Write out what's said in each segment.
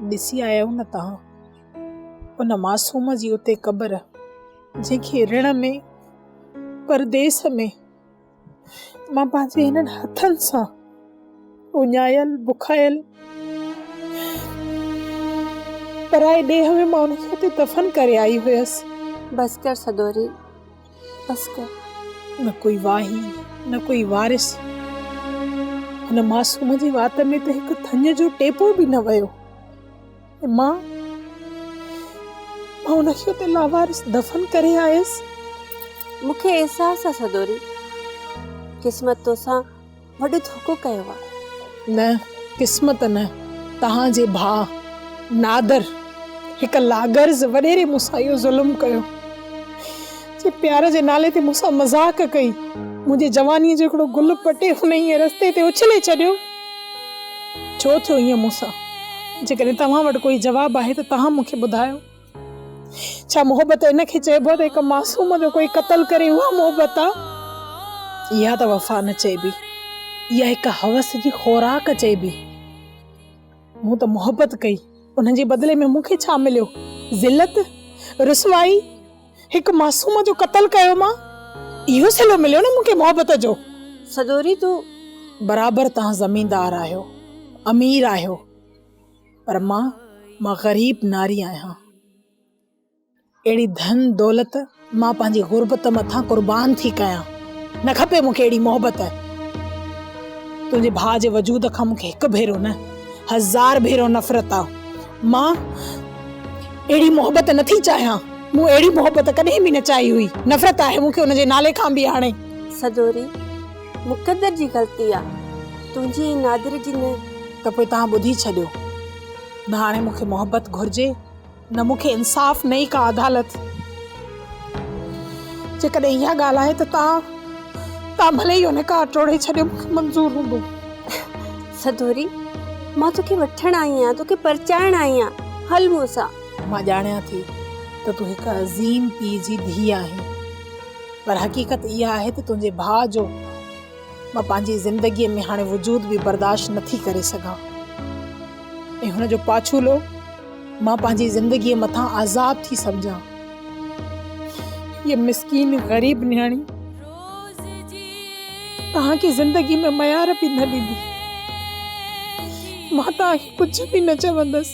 ڏسي آيو نه توهان ان معصوم جي اتي قبر جنهن کي رڻ ۾ پرديس ۾ مان پنهنجي هنن هٿن سان اڃايل بکايل پرائي ڏيهه ۾ مان ان کي اتي دفن ڪري آئي هيس. بس ڪر سدوري. عسڪر، نه ڪوئي واهي، نه ڪوئي وارث. هن معصوم جي وات ۾ ته هڪ ٿڃ جو ٽيپو به نه ويو ۽ مان مان ان کي اتي لاوارث دفن ڪري آيس. مون کي احساس آ سدوري، قسمت توسان وڏو ڌوڪو ڪيو آ. نه قسمت نه توهان جي ڀاء نادر هڪ لاغرض وڏيري مون سان اهو ظلم ڪيو جي پيار جي نالي تي مون سان مذاق ڪئي منهنجي جواني جو هڪڙو گل پٽي هن ائين رستي تي اڇلي ڇڏيو ڇو ٿيو ائين مون سان جيڪڏهن توهان وٽ ڪوئي جواب آهي ته توهان مون کي ٻڌايو. ڇا محبت ان کي چئبو ته هڪ معصوم جو ڪوئي قتل ڪري اها محبت آ؟ اها ته وفا نه چئبي. اها هڪ حوس جي خوراڪ چئبي. مون ته محبت ڪئي ان جي بدلي ۾ مون کي ڇا مليو؟ ذلت؟ رسوائي؟ هڪ معصوم جو قتل ڪيو مان؟ اهو صلو مليو نه مون کي محبت جو؟ سدوري تون برابر تان زميندار آهيو، امير آهيو. پر مان مان غريب ناري آهيان اهڙي ڌن دولت مان پنهنجي غربت مٿان قربان ٿي ڪيان نه کپي مونکي اهڙي محبت تنهنجي ڀاء جي وجود کان مونکي هڪ ڀيرو نه هزار ڀيرو نفرت آ مان اهڙي محبت نٿي چاهيان مون اهڙي محبت ڪڏهن به نه چاهي هئي نفرت آهي مونکي ان جي نالي کان به هاڻي سڄوري مقدر جي غلطي آ تنهنجي ۽ نادر جي نه. ته پوء توهان ٻڌي ڇڏيو. نه هاڻي مون کي محبت گهرجي نه مون کي انصاف نه ئي ڪا عدالت. جيڪڏهن اها ڳالهه آهي ته توهان توهان ڀلي اهو نڪاح ٽوڙي ڇڏيو مون کي منظور هوندو. سدوري مان توکي وٺڻ آئي آهيان توکي پرچائڻ آئي آهيان هل مون سان. مان ڄاڻيان ٿي ته تون هڪ عظيم پيء جي ڌيء آهين. پر حقيقت اها آهي ته تنهنجي ڀاء جو مان پنهنجي زندگيء ۾ هاڻي وجود به برداشت نه ٿي ڪري سگهان ۽ هن جو پاڇولو مان پنهنجي زندگيء مٿان عذاب ٿي سمجهان هيء مسڪين غريب نياڻي توهان کي زندگي ۾ ميار به نه ڏيندي مان توهان کي ڪجهه به نه چوندس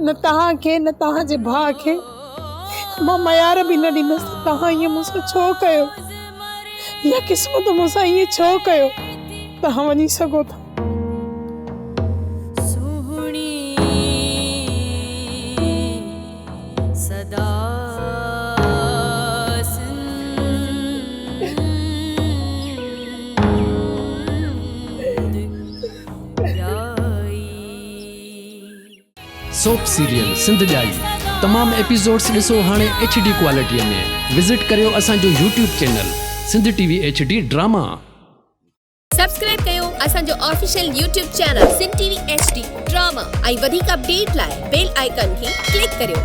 نه توهان کي نه توهان جي ڀاء کي مان ميار به نه ڏيندس ته توهان ائين مون سان ڇو ڪيو يا قسمت مون سان ائين ڇو ڪيو توهان وڃي سگهو ٿا. سهڻي صدا سوپ سيريل سنڌ ڄائي تمام ايپيسوڊس ڏسو هاڻي ايڇ ڊي ڪوالٽي ۾ وزٽ ڪريو اسان جو YouTube channel Sindh T V H D drama. Subscribe ڪيو اسان جو official YouTube channel Sindh T V H D drama ۽ وڌيڪ اپڊيٽ لاء بيل آئيڪان کي ڪلڪ ڪريو.